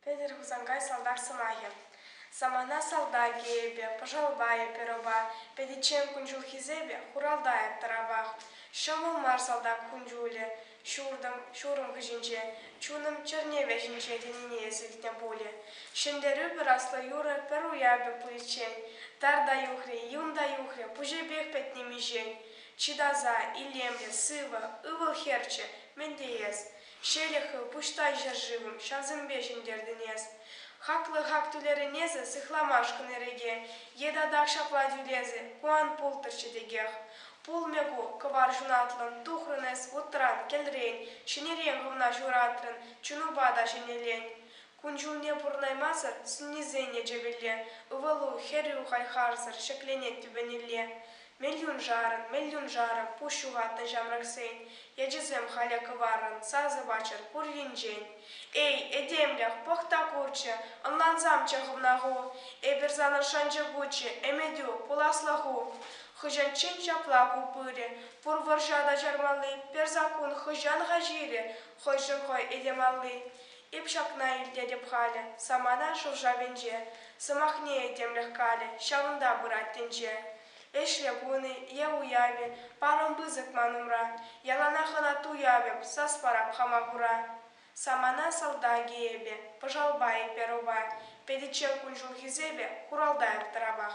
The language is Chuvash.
Петӗр Хусанкай салтак сӑмахӗ. Самана салтакӗ эпӗ, пӑшалпа эпир ӑпа, пӗтиччен кун-ҫул хисепӗ, хуралта тӑрапах. Ҫӑмӑл мар салтак кун-ҫулӗ, Ҫуртӑм, ҫурӑм хыҫӗнче, чунӑм чӗрне вӗҫӗнче тенине илтнӗ пулӗ. Ҫӗнтерӳ пыраслӑ юрӑ пӗр уявӗ пуличчен тар та юхрӗ, юн та юхрӗ, пуҫӗпех пӗтнӗ миҫен. Чи таса, илемлӗ, сывӑ, ывӑл-хӗрчӗ, мӗн теес? Ҫӗлӗк хыв, пуҫтай ҫӗршывӑм, ҫавсемпе ҫӗнтертӗн эс. Хаклӑ хак тӳлерӗн эсӗ, сыхламашкӑн эреке. Е татах ҫапла тӳлесӗ, ку ан пултӑрччӗ текех. Пулмӗ ку, кӑвар ҫунатлӑн тухрӑн эс вутран, кӗлрен, ҫӗнӗрен хӑвна ҫуратрӑн, чунупа та ҫӗнӗлен. Кун-ҫулне пурӑнаймасӑр сӳннисен ячӗпелле, ывӑлу, хӗрӳ хай-харсӑр ҫӗкленет тӳпенелле. Мелюншарӑн, мелюншарӑн, пуҫ ҫухатнӑ ҫамрӑксен ячӗсем халӗ кӑваррӑн сасӑпаччӑр пур енчен. Эй, этемлӗх, пӑх та курччӗ, ӑнлансамччӗ хӑвна ху, эпир санӑн шанчӑкуччӗ, ӗмӗтӳ, пуласлӑху. Хӑҫанччен ҫапла ку пырӗ? Пур вӑрҫа та чармалли, пӗр саккун хӑҫан-ха ҫирӗ? Хӑйшӗн хӑй этемалли. Эп ҫакна илтетӗп халӗ, самана шӑв-шавӗнче. Сӑмахне этемлӗх калӗ, ҫавӑнта пырать тӗнче. Ӗҫлӗ кун-и е уявӗ, парӑм пысӑк ман умра. Яланах ӑна туявӑп, сас парап хама кура. Самана салтакӗ эпӗ, пӑшалпа-и перова, Пӗтӗччӗр кун-ҫул хисепӗ, хуралта эп тӑравах.